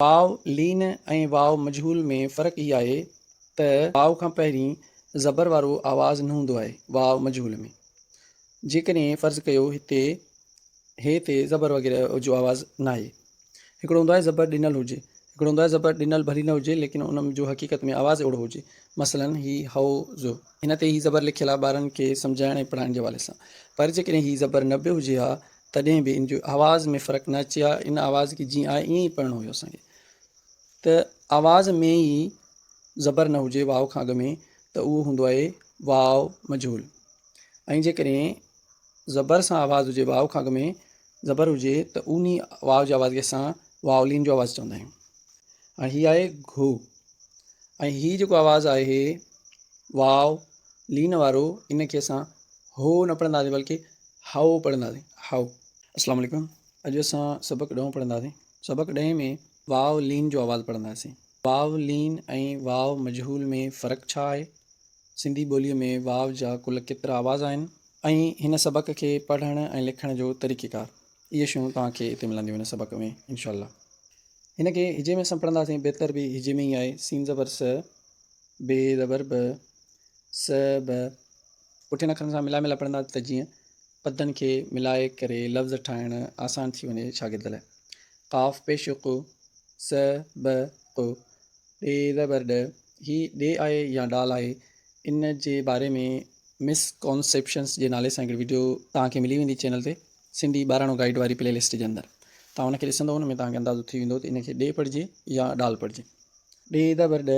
واو لين ۽ واو مجهول ۾ فرق هي آهي ته واو کان پهرين زبر وارو آواز نه هوندو آهي واو مجهول ۾ جيڪڏهن فرض ڪيو هتي هي تي زبر وغيره جو آواز ناهي هڪڙو هوندو آهي زبر ڏنل هجي هڪڙو هوندو آهي زبر ڏنل ڀلي نه هجي ليڪن ان جو حقيقت ۾ آواز اهڙو هجي مثلا هي هو زو هن تي هي زبر لکيل آهي ٻارن کي سمجهائڻ ۽ پڙهائڻ جي حوالي سان پر جيڪڏهن هي زبر نه به هجي ها تڏهن به ان جو آواز ۾ فرق نه اچي ها ان آواز کي جيئن آهي ائين ئي پڙهڻو هيو اسان کي ته آواز ۾ ئي زبر نه هجي واء کان اڳ ۾ ته اهو هوندو آهي واء مجهول ۽ جيڪڏهن زبر سان آواز هجي واء کان اڳ ۾ زبر هجي ته ان ئي واء جي آواز کي اسان واولين جو آواز چوندا آهيون هاڻي هي آهي گهو ۽ هي جيڪو آواز آهي واء لين وارو ان کي اسان هو نه پڙهنداسين بلڪه هائو پڙهنداسين هائو. اسلام عليڪم اڄ اسان سبق ڏهون پڙهنداسين سبق ڏهين ۾ واو لين جو آواز پڙهنداسين واو لين ۽ واو مجهول ۾ فرق ڇا آهي سنڌي ٻولي ۾ واو جا ڪل ڪيترا آواز آهن ۽ هن سبق کي پڙهڻ ۽ لکڻ جو طريقي ڪار اهي شيون توهان کي اتي ملنديون هن سبق ۾ انشاء الله هن کي هجي ۾ اسان پڙهنداسين بهتر به هجي ۾ ئي آهي سين زبر س بي زبر ب س ب پٺين اکرن سان ملائي ملائي پڙهندا ته جيئن پدن کي ملائي ڪري لفظ ٺاهڻ آسان ٿي وڃي شاگرد لاء. قاف پيش ق، س، ب، ق، ڏ زبر ڏ، هي ڏ آهي يا ڊال آهي ان جي باري ۾ مس ڪانسيپشنس جي نالي سان هڪڙي وڊيو توهان کي ملي ويندي چينل تي سنڌي ٻاراڻو گائيڊ واري پلي لسٽ جي اندر توهان ان کي ڏسندو ان ۾ توهان کي اندازو ٿي ويندو ته ان کي ڏي پڙهجي يا ڊال پڙهجي ڏي زبر ڏ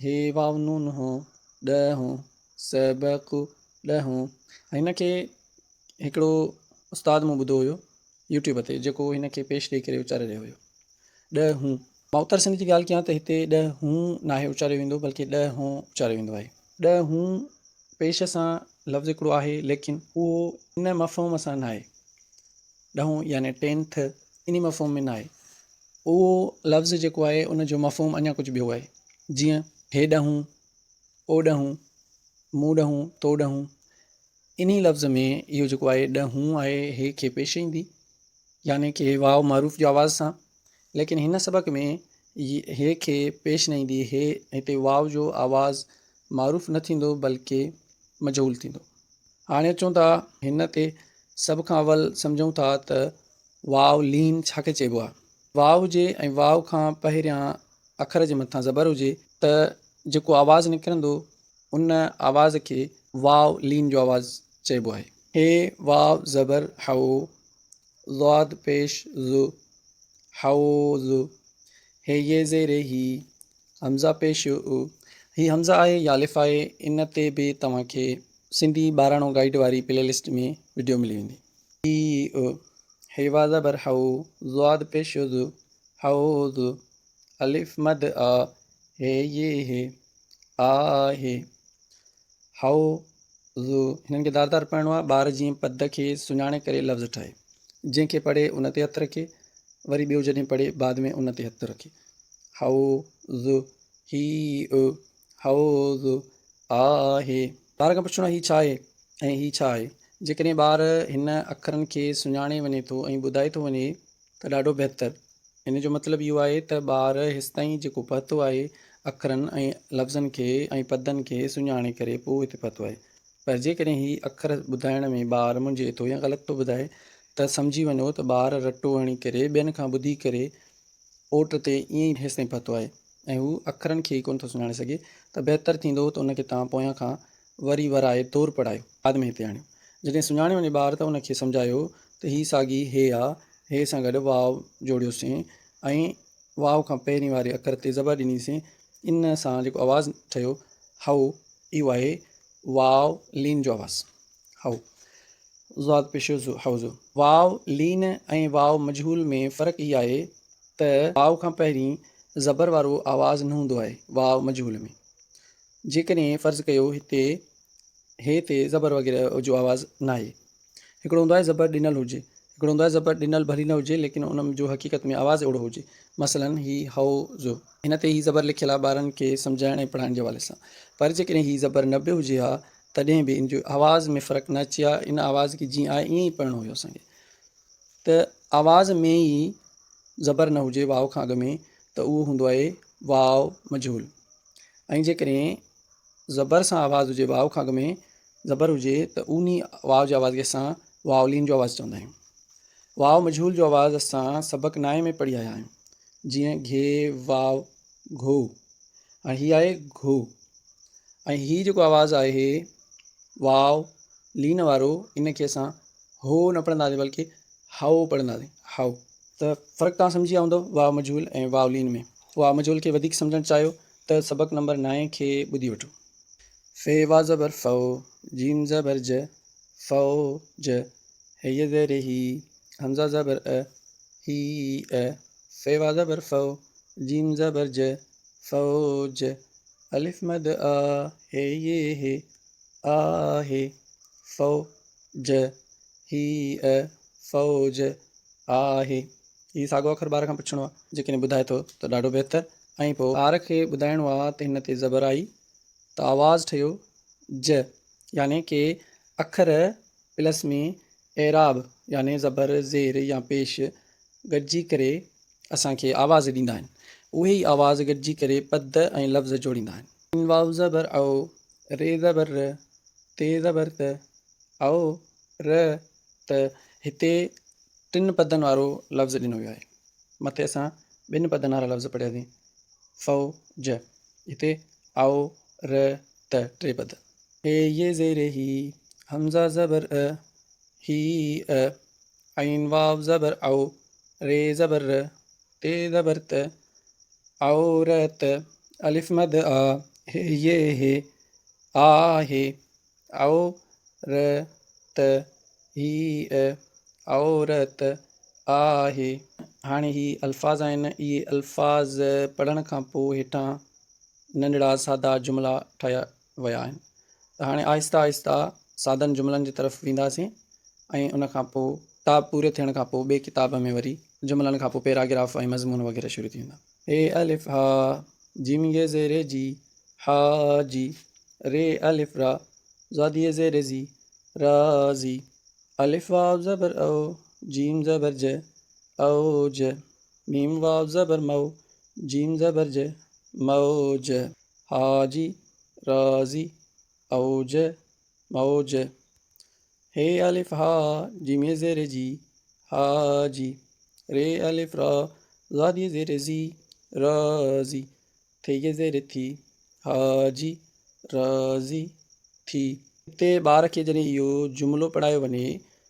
هي واو نون هون ڏ هون سبق ڏهون هن کي هڪڙو استاد مون ٻڌو هيو يوٽيوب تي جيڪو هن کي پيش ڏئي ڪري اچاري رهيو هيو ڏهون مان اتر سنڌ جي ڳالهه ڪيان ته هتي ڏهون ناهي اچاريو ويندو بلڪه ڏهون اچاريو ويندو آهي ڏهون پيش سان لفظ هڪڙو آهي ليڪن اهو ان مفهوم سان ناهي ڏهون يعني ٽين ٿ انهي مفهوم ۾ ناهي اهو لفظ جيڪو آهي ان جو مفهوم اڃا ڪجهه ٻيو آهي جيئن هي ڏهون او ڏهون، مون ڏهون، تو ڏهون، انهي لفظ ۾ اهو جيڪو آهي ڏ هون آهي هي کي پيش ايندي يعني ڪي واء معروف جي آواز سان ليڪن هن سبق ۾ هي کي پيش نه ايندي هي هتي واء جو آواز معروف نه ٿيندو بلڪه مجهول ٿيندو هاڻي اچون ٿا هن تي سڀ کان اول سمجهون ٿا ته واء لين ڇا کي چئبو آهي واء جي ۽ واء کان پهريان اکر جي مٿان زبر هجي ته جيڪو آواز نڪرندو ان آواز کي واء لين جو آواز چئبو آهي. ح واء زبر حو، ضاد پيش ظ، حوظ. ه ي زير هي، همزه پيش ء. هي همزه آهي يا الف آهي ان تي به توهان کي سنڌي ٻاراڻو گائيڊ واري پلي لسٽ ۾ وڊيو ملي ويندي. ي ء، ح واء زبر حو، ضاد پيش ظ، حوض، الف مد آ، هي ي هي، آ هي، حو ض هنن کي دار دار پڙهڻو آهي ٻار جيئن پد کي سڃاڻي ڪري لفظ ٺاهي جنهن کي پڙهي ان تي هٿ رکي وري ٻيو جڏهن پڙهي بعد ۾ ان تي هٿ رکي حو ض هي ا حو ض آ هي ٻار کان پڇڻو هي ڇا آهي ۽ هي ڇا آهي جيڪڏهن ٻار هن اکرن کي سڃاڻي وڃي ٿو ۽ ٻڌائي ٿو وڃي ته ڏاڍو بهتر. ان جو مطلب اهو آهي ته ٻار هيستائين جيڪو پهتو آهي اکرن ۽ لفظن کي ۽ پدن کي سڃاڻي ڪري پوء هتي پهتو آهي. پر جيڪڏهن هي اکر ٻڌائڻ ۾ ٻار منجهي ٿو يا غلط ٿو ٻڌائي ته سمجهي وڃو ته ٻار رٽو هڻي ڪري ٻين کان ٻڌي ڪري اوٽ تي ائين ئي هيستائين پهتو آهي ۽ هو اکرن کي ئي ڪونه ٿو سڃاڻي سگهي ته بهتر ٿيندو ته ان کي توهان پويان کان وري ورائي تور پڙهايو. بعد ۾ هتي آڻيو. جڏهن سڃاڻي وڃي ٻار ته ان کي سمجهايو ته هي ساڳي هي آ، هي سان گڏ واو جوڙيوسين ۽ واو کان پهرين واري اکر تي زبر ڏنيسين، ان سان جيڪو آواز ٺهيو هئو، اهو آهي واو لين جو آواز. هئو ضاد پيش هئو ضو. واو لين ۽ واو مجهول ۾ فرق هي آهي ته واو کان پهرين زبر وارو آواز نه هوندو آهي واو مجهول ۾. جيڪڏهن فرض ڪيو هتي هي تي زبر وغيره جو آواز ناهي. هڪڙو هوندو آهي زبر ڏنل هجي. هڪڙو هوندو آهي زبر ڏنل ڀلي نه هجي ليڪن ان جو حقيقت ۾ آواز اهڙو هجي. مثلاً هي هئو زو. هن تي هي زبر لکيل آهي ٻارن کي سمجهائڻ ۽ پڙهائڻ جي حوالي سان. پر جيڪڏهن هي زبر نه به هجي ها تڏهن به ان جي آواز ۾ فرق نه اچي ها. ان آواز کي جيئن آهي ائين ئي پڙهڻو هيو اسان کي. ته آواز ۾ ئي زبر نه هجي واء کان اڳ ۾ ته اهو هوندو آهي واء مجهول. ۽ جيڪڏهن زبر سان آواز هجي واء کان اڳ ۾ زبر هجي ته اونهي واء جي آواز کي اسان واولين جو آواز چوندا آهيون واء مجهول جو آواز اسان سبق نائين ۾ پڙهي آيا آهيون جيئن گهي واء گهو هاڻي هي آهي گهو ۽ هي جيڪو آواز آهي واء لين وارو ان کي اسان هو نه پڙهنداسين بلڪه هائو پڙهنداسين هائو ته فرق تان سمجهي ويا هوندو واء مجهول ۽ واء لين ۾ اها مجهول کي وڌيڪ سمجهڻ چاهيو ته سبق نمبر نائين کي ٻڌي وٺو. ف واء زبر ف ج زبر ج ف ج ه ي زير هي همزه زبر ء هي ء ف واء زبر ف ج زبر ج ف ج الف مد آ هي ي هي آ هي ف ج هيء فوج آهي. هي ساڳو اکر ٻار کان پڇڻو آ، جيڪڏهن ٻڌائي ٿو ته ڏاڍو بهتر ۽ پوء. ٻار کي ٻڌائڻو آ ته هن تي زبر آئي ته آواز ٺهيو ج يعني ڪي اکر پلس ۾ اعراب يعني زبر، زير يا پيش گڏجي ڪري اسان کي آواز ڏيندا آهن. اهي ئي آواز گڏجي ڪري پد ۽ لفظ جوڙيندا آهن. ن واو زبر او، ر زبر ر، ت زبر ت، او، ر، ت، هتي ٽن پدن وارو لفظ ڏنو ويو آهي. مٿي اسان ٻن پدن وارا لفظ پڙهياسين، ف، ج، هتي او، ر، ت ٽي پد. ي زير هي، همزه زبر ء، هي، ء، عين واء زبر او، ر زبر ر، ت زبر ت، عورت، الف مد آ، ه ي ه، آ ه، عو ر ت، هي ء، عورت، آ ه. هاڻي هي الفاظ آهن، اهي الفاظ پڙهڻ کان پوء هيٺان ننڍڙا سادا جملا ٺاهيا ويا آهن ته هاڻي آهسته آهسته سادن جملن جي طرف وينداسين ۽ ان کان پوء ڪتاب پوري ٿيڻ کان پوء ٻئي ڪتاب ۾ وري جملن کان پوء پيراگراف ۽ مضمون وغيره شروع ٿي ويندا. هي الف ها جيم ي زي ري جي حا جي ري الف را زاد ي زي ري زي را زي الف واو زبر او جيم زبر ج او ج ميم واو زبر مو جيم زبر ج مو ج حاجي راضي اوج موج هي الف ها جي م زير جي حاجي ري الف را زادي زير زي راضي ٿي جي زير ٿي حاجي راضي ٿي. هتي ٻار کي جڏهن اهو جملو پڙهايو وڃي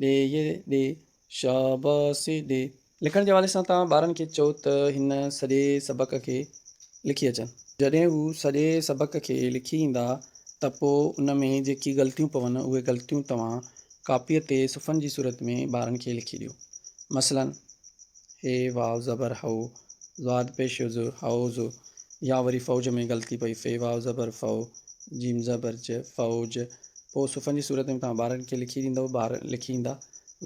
ڏي يي ڏي، شاباسي ڏي. لکڻ جي حوالي سان توهان ٻارن کي چئو ته هن سڄي سبق کي لکي اچن. جڏهن هو سڄي سبق کي لکي ايندا ته پوء ان ۾ جيڪي غلطيون پون اهي غلطيون توهان ڪاپيء تي صفحن جي صورت ۾ ٻارن کي لکي ڏيو. مثلاً. هي واو زبر هو، ضاد پيش ز، هئوز، يا وري فوج ۾ غلطي پئي، في واو زبر فو، جيم زبر ج، فئوج، پوء صفحن جي صورت ۾ توهان ٻارن کي لکي ڏيندؤ، ٻار لکي ايندا،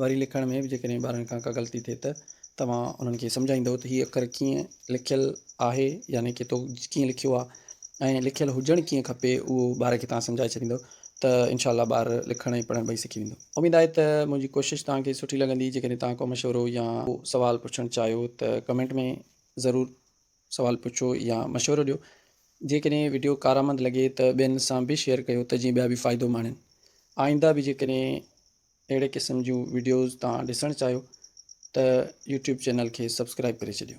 وري لکڻ ۾ به جيڪڏهن ٻارن کان ڪا غلطي ٿئي ته توهان انهن کي سمجهائيندؤ ته هي اکر ڪيئن لکيل آهي يعني ڪي تو ڪيئن لکيو آهي ۽ لکيل هجڻ ڪيئن کپي اهو ٻار کي توهان سمجهائي ڇڏيندؤ. ته انشاء الله ٻار لکڻ ۽ پڙهڻ ٻئي سکي ويندو. اميد آهي ته منهنجي ڪوشش توهان کي سٺي لڳندي. جيڪڏهن توهان ڪو مشورو يا ڪو سوال پڇڻ چاهيو ته ڪمينٽ ۾ ضرور سوال پڇو يا مشورو ڏيو. جيڪڏهن وڊيو ڪارآمد لڳي ته ٻين سان به شيئر ڪيو ته جيئن ٻيا به فائدو ماڻين. آئنده به جيڪڏهن اهڙي قسم جون وڊيوز توهان ڏسڻ چاهيو ته يوٽيوب چينل کي سبسڪرائب ڪري ڇڏيو.